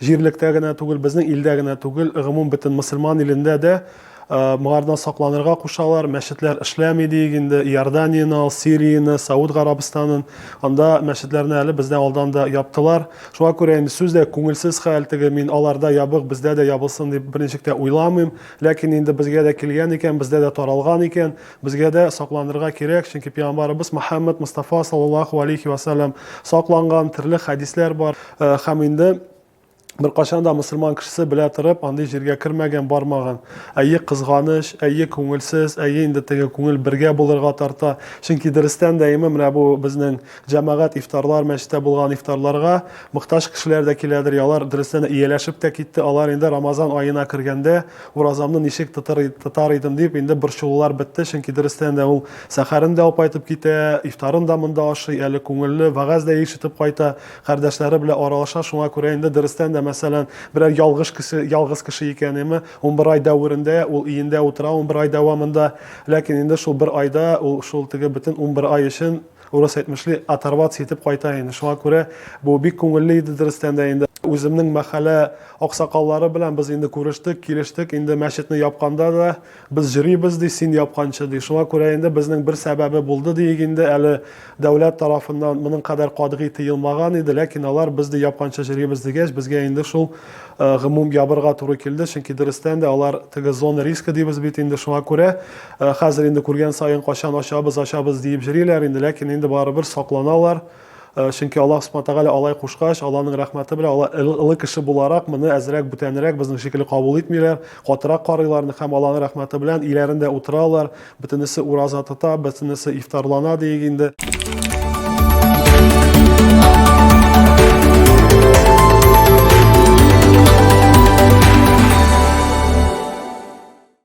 Җирлектә генә түгел, безнең илдә генә түгел, гомум бөтен мөселман илендә дә моңардан сакланырга кушалар. Мәчетләр эшләми диек инде. Иорданияне ал, Сирияне, Сауд Гарабстанын. Анда мәчетләрне әле бездән алдан да яптылар. Шуңа күрә инде сүз дә күңелсез хәл, теге мин аларда ябык, бездә дә ябылсын дип берничек тә уйламыйм. Ләкин инде безгә дә килгән икән, бездә дә таралган икән. Безгә дә сакланырга кирәк, чөнки пиамбарыбыз Мөхәммәд Мостафа саллаллаһу алейхи вә сәлләм сакланган, төрле хәдисләр бар. Һәм инде беркайчан да мөселман кешесе белә торып андый җиргә кермәгән, бармаган. Әйе, кызганыч, әйе, күңелсез, әйе, инде теге күңел бергә булырга тарта. Чөнки дөрестән дә име менә бу безнең җәмәгать ифтарлар, мәчеттә булган ифтарларга мохтаҗ кешеләр дә киләдер, алар дөрестән дә ияләшеп тә китте, алар инде Рамазан аена кергәндә, Уразамны ничек тотар, тотар идем дип, инде борчылулар бетте, чөнки дөрестән дә ул сәхәрен дә апайтып китә, ифтарын да монда ашый, әле күңелле вәгазь дә ишетеп кайта, кардәшләре белән аралаша, шуңа күрә инде дөрестән дә, мәсәлән, берәр ялгыш кеше, ялгыз кеше икәнеме, унбер ай дәверендә ул өендә утыра, унбер ай дәвамында, ләкин инде шул бер айда ул шул теге бөтен унбер ай өчен, Урыс әйтмешли, оторваться итеп кайта инде. Шуңа күрә бу бик күңелле иде дөрестән дә инде. Үземнең мәхәллә аксакаллары белән без инде күрештек, килештек, инде мәчетне япканда да без җөрибез, ди, син япканчы, ди. Шуңа күрә инде безнең бер сәбәбе булды, диик инде, әле дәүләт тарафыннан моның кадәр катгый тыелмаган иде, ләкин алар без, ди, япканчы җөрибез дигәч, безгә инде шул гомум ябырга туры килде, чөнки дөрестән дә алар теге зона риска дибез бит инде, шуңа күрә Ә хәзер инде күргән саен качан ачабыз, ачабыз диеп җриләр инде, ләкин инде барыбер сакланалар. Э, чөнки Аллаһ Субхану Тәгалә алай кушкач, Аллаһның рәхмәте белән алар ылы кеше буларак моны әзрәк бүтәнрәк безнең шикелле кабул итмиләр, катырак карыйлар һәм Аллаһның рәхмәте белән иләрендә утыралар, бөтенесе ураза тота, бөтенесе ифтарлана диек инде.